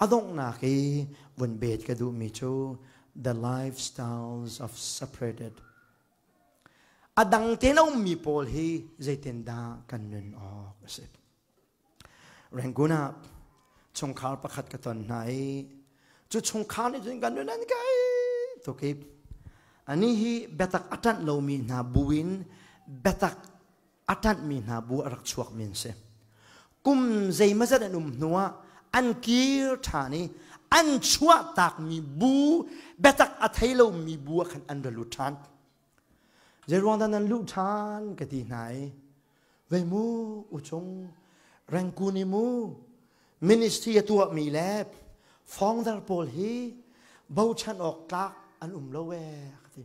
A donghnak i vun bet ka duhmi cu The Lifestyles of Separated. A dang tein a ummi pawl hi zeitindah kan nun awk a si. Rangoon ah chungkhar pakhat ka ton hna i cu chungkhar nih cun kan nun an kai tukip ani hi biatak a ṭanh lomi hna bu in biatak a ṭanhmi hna bu a rak chuakmi an si. Kum zeimazat an um hnuah an kir ṭhan i an chuahtakmi bu, biatak a thei lomi bu ah khan an ra lut ṭhan. Zeiruang dah nan luh ṭhan ka ti hna i, vei mu uchung, rengkun i mu, ministry a tuahmi le founder pawl hi bochan awk tlak an um lo ee, a ka ti.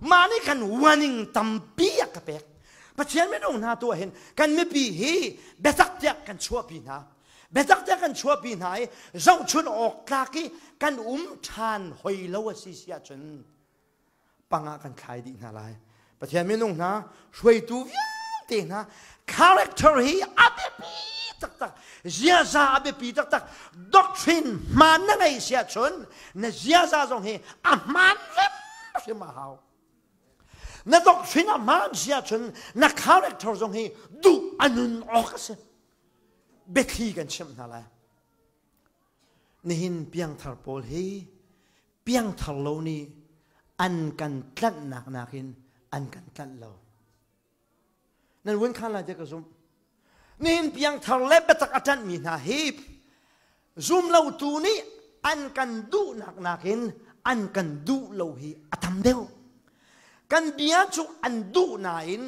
mah nih kan warning tampi a ka pek Pathian minung hna tu ahhin kan mipi hi biatak tiah kan chuahpi hna biatak tiah kan chuahpi hna i zohchun awk tlak i kan um ṭhan hoi lo a si si ahcun pangah kan thlai dih hna lai Pathian minung hna hruaitu vialte hna character hi a biapi taktak ziaza a biapi taktak doctrine hmaan na ngei siah chun na ziaza zong hi a hmaan hrim a hau na doctrine a hmaan siah chun na character zong hi duh a nun awk a si biathli kan chimh hna lai nihin piangthar pawl hi piangthar lo nih an kan tlanhnak nakin an kan tlanh lo nan vun khan lai te ka zumh nihin piangthar le biatak a ṭanhmi hna hi zumlotu nih an kan duhnak nakin an kan duh lo hi a tam deuh kan bia cu an duh nain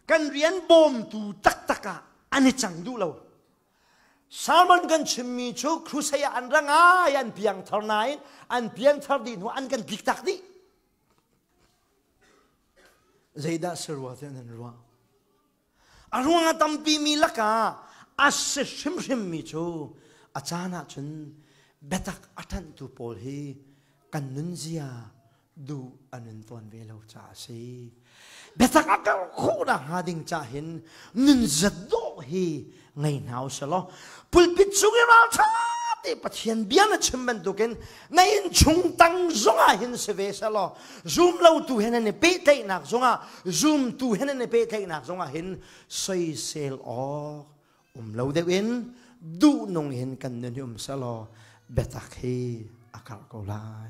kan rian bawmtu taktak ah an i cang duh lo Sermon kan chimmi cu crusade ah an ra ngai an piangthar nain an piangthar dih hnu an kan tlik tak dih. Zeidah serwa tiah nan ruah? A ruang a tampi mi lakah a si hrimhrim mi cu a caan ah cun biatak a ṭhanhtu pawl hi kan nunzia duh an in tuan ve lo caah a si biatak a ter khawhnak hnga ding ca hin nun zat dawh hi ngei hna u selaw pulpit chung i ralṭha ti pathian bia na chim bantukin na in chung tang zongah hin si ve selaw zum lotu hen an i pehtlaihnak zongah zumtu hen an i pehtlaihnak zongah hin soisel awk um lo deuhin duh nung hin kan nun hi um selaw biatak hi a karh ko lai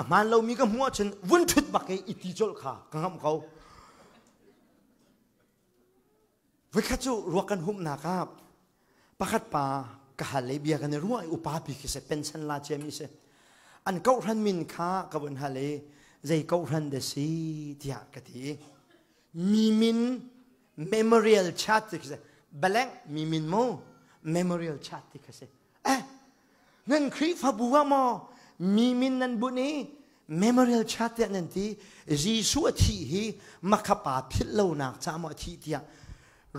A hmaan lomi ka hmuh ahcun vun ṭhut bak i iti colh kha ka ngamh ko. Voikhat cu ruak kan humnak ah pakhat pa ka hal le bia kan i ruah i upapi khi se pension la ciami si an kohhran min kha ka vun hal i zei kohhran dah si tiah ka ti mi min memorial chart ti khi si blank mi min mu memorial chart ti khi si eh nan khrihfabu ah maw mi min nan bunh i memorial chart tiah nan ti Jesuh a thih hi makapa philh lonak ca maw a thih tiah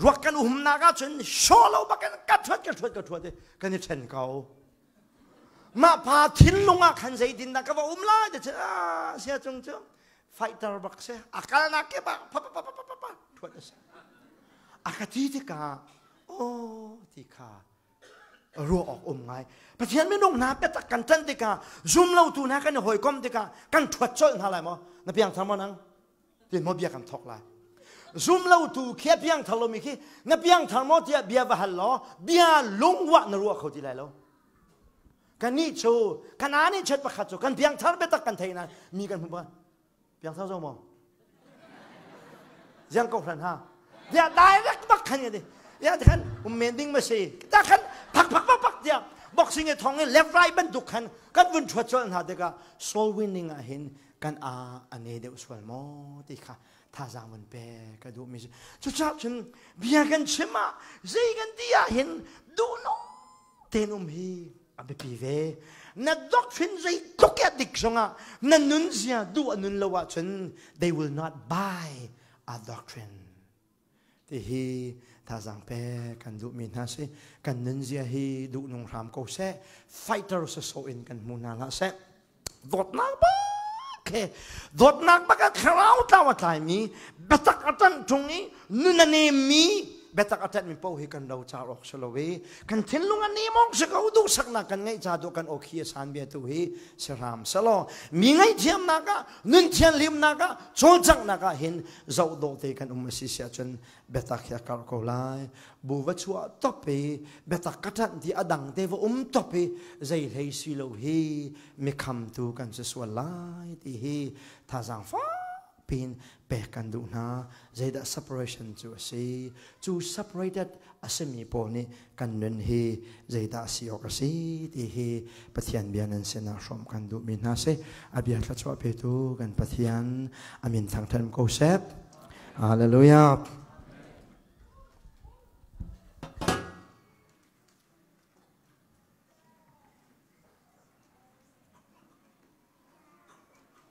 ruak kan umnak ahcun shaw lo bak in ka thuat ka thuat ka thuat kan i ṭhen ko mah pa thinlung ah khan zeitin dah ka va um lai ti cu sia cung cu fighter bak si a kalnak ke bak pa pa pa pa pa thuat a si a ka ti tikah aw ti kha ruah awk um ngai pathian minung hna biatak kan can tikah zumlotu hna kan i hawikom tikah kan ṭhuat colh hna lai maw na piang thar maw nang tin maw bia kan thawk lai zumlotu khia piang thar lomi khi na piang thar maw tiah bia va hal law bia lungwah na ruah kho ti lai lo kan nih cu kana nih chet pakhat cu kan piang thar biatak kan thei na mi kan hmu ba piang sau zong maw ziang ko hlan ha ya direct bak khan yadi ya khan um men ding ma sei ta khan phak phak phak phak dia boxing e thong e left right ban duk khan kan vun chuat chol na de ka soul winning a hin kan a ane de uswal mo ti kha tha zang man pe ka du mi chu chap chun bia kan chima zei kan dia hin du no tenum hi a biapi ve na doctrine zeitluk a dik zongah na nunzia duh a nun lo ahcun they will not buy a doctrine ti hi thazang pe kan duhmi hna si kan nunzia hi duhnung hram ko seh fighter sasawh in kan hmu hna hlah seh dawtnak bak he dawtnak bak a thlarau tlau a tlaimi biatak a ṭanh ṭung i nun a nemmi biatak a ṭanhmi paoh hi kan lo car awk si lo i kan thinlung a nem awk si ko duhsaknak kan ngeih ca duh kan okhi a san bia tu hi si hram selaw mi ngaihthiamnak ah nun thianhlimnak ah cawlcanghnak ah hin zoh dawh te kan um a si sia cun biatak hi a karh ko lai bu va chuah top i biatak ka ṭanh ti a dang te va um top i zei hlei si lo hi mi khamtu kan si sual lai ti hi thazaang fak pin pek kan duh hna zeidah separation cu a si cu separated a simi pawl nih kan nun hi zeidah a si awk a si ti hi pathian bia nan sinah hrawm kan duhmi hna si a bia thla chuah petu kan pathian amin thangthem ko sep Hallelujah.